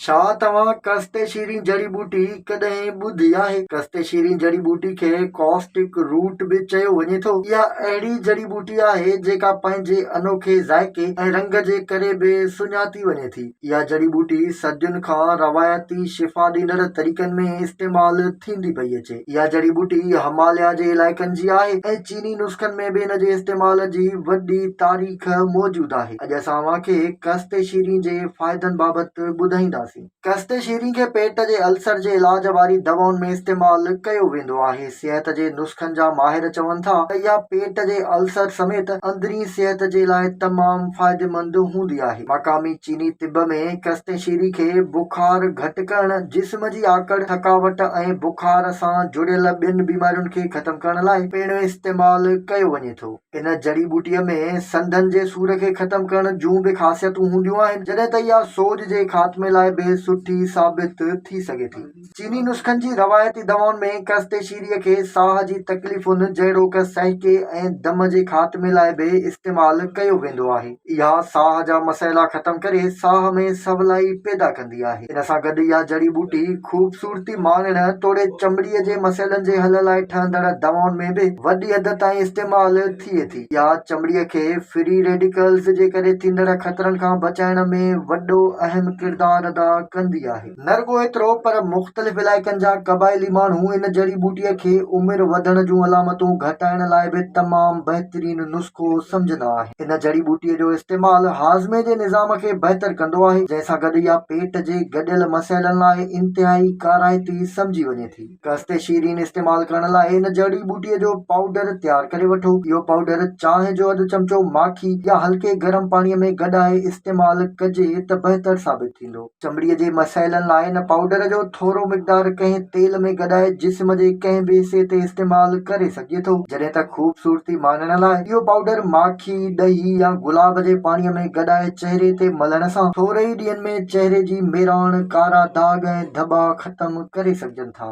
ڇا توهان ڪستي شيرين جڙي ٻوٽي ڪڏهن ٻڌي آهي؟ ڪستي شيرين جڙي ٻوٽي کي ڪاسٽڪ روٽ به چيو وڃي ٿو. اها اهڙي جڙي ٻوٽي آهي جيڪا پنهنجي انوکي ذائقي ۽ رنگ جي ڪري به سڃاتي وڃي ٿي. اها جڙي ٻوٽي صدين کان روايتي شفا ڏيندڙ طريقن ۾ استعمال ٿيندي پئي اچي. اها جڙي ٻوٽي هماليا جي علائقن جي آهي ۽ چيني نسخن ۾ به ان جي استعمال جي وڏي تاريخ موجود آهي. اڄ اسان اوهان کي ڪستي شيرين جي فائدن بابت ٻڌائينداسين. ڪستي شيرين کي پيٽ جي السر جي علاج واري دوائن ۾ استعمال ڪيو ويندو آهي. صحت جي نسخن جا ماهر چون ٿا ته اها پيٽ جي السر سميت اندرين صحت جي لاء تمام فائديمند هوندي آهي. مقامي چيني طب ۾ ڪستي شيرين کي بخار گهٽ ڪرڻ، جسم جي آڪڙ، ٿڪاوٽ ۽ بخار سان جڙيل ٻين بيمارين کي ختم ختم ڪرڻ لاء پڻ استعمال ڪيو وڃي ٿو. ان جڙي ٻوٽيء ۾ سنڌن جي سور کي ختم ڪرڻ جون به خاصيتون هونديون آهن، جڏهن ته اها سوڄ جي خاتمي لاء به سٺي ثابت ٿي سگهي ٿي. چيني نسخن جي روايتي دوائن ۾ ڪرستيشيريء کي ساهه جي تڪليفن جهڙوڪ سهڪي ۽ دم جي خاتمي لاء به استعمال ڪيو ويندو آهي. اها ساهه جا مسئلا ختم ڪري ساهه ۾ سولائي پيدا ڪندي آهي. ان سان گڏ اها جڙي ٻوٽي خوبصورتي ماڻڻ توڙي چمڙي جي مسئلن جي حل لاء ٺهندڙ دوائن ۾ به وڏي حد تائين استعمال ٿئي ٿي. اها چمڙي کي فري ريڊيڪلز جي ڪري ٿيندڙ خطرن کان بچائڻ ۾ وڏو اهم ڪردار ادا ڪندي آهي. نه رڳو ايترو پر مختلف علائقن جا قبائلي ماڻهو ان جڙي ٻوٽيء کي عمر وڌڻ جون علامتون گهٽائڻ لاء به تمام بهترين نسخو سمجهندا آهن. ان جڙي ٻوٽيء جو استعمال هاضمي جي نظام کي بهتر ڪندو آهي، جنهن سان گڏ اها پيٽ جي گڏيل مسئلن لاء انتهائي ڪارائتي سمجهي وڃي ٿي. قصد شيرين استعمال ڪرڻ لاء ان جڙي ٻوٽيء جو پائوڊر تيار ڪري وٺو. اهو پائوڊر چانهه جو اڌ چمچو ماکي يا هلڪي گرم پاڻيء ۾ گڏائي استعمال ڪجي ته بهتر ثابت ٿيندو. چمڙي جي مسئلن لاء هن پائوڊر جو ٿورو مقدار ڪنهن تيل ۾ گڏائي جسم جي ڪنهن به حصي تي استعمال ڪري سگهجي ٿو جڏهن ته خوبصورتي ماڻڻ لاء اهو پائوڊر ماکي، ڏهي يا گلاب جي پاڻي ۾ گڏائي چهري تي ملڻ سان ٿوري ئي ڏينهن ۾ چهري جي ميراڻ، ڪارا داغ ۽ ڌٻا ختم ڪري سگهجن ٿا.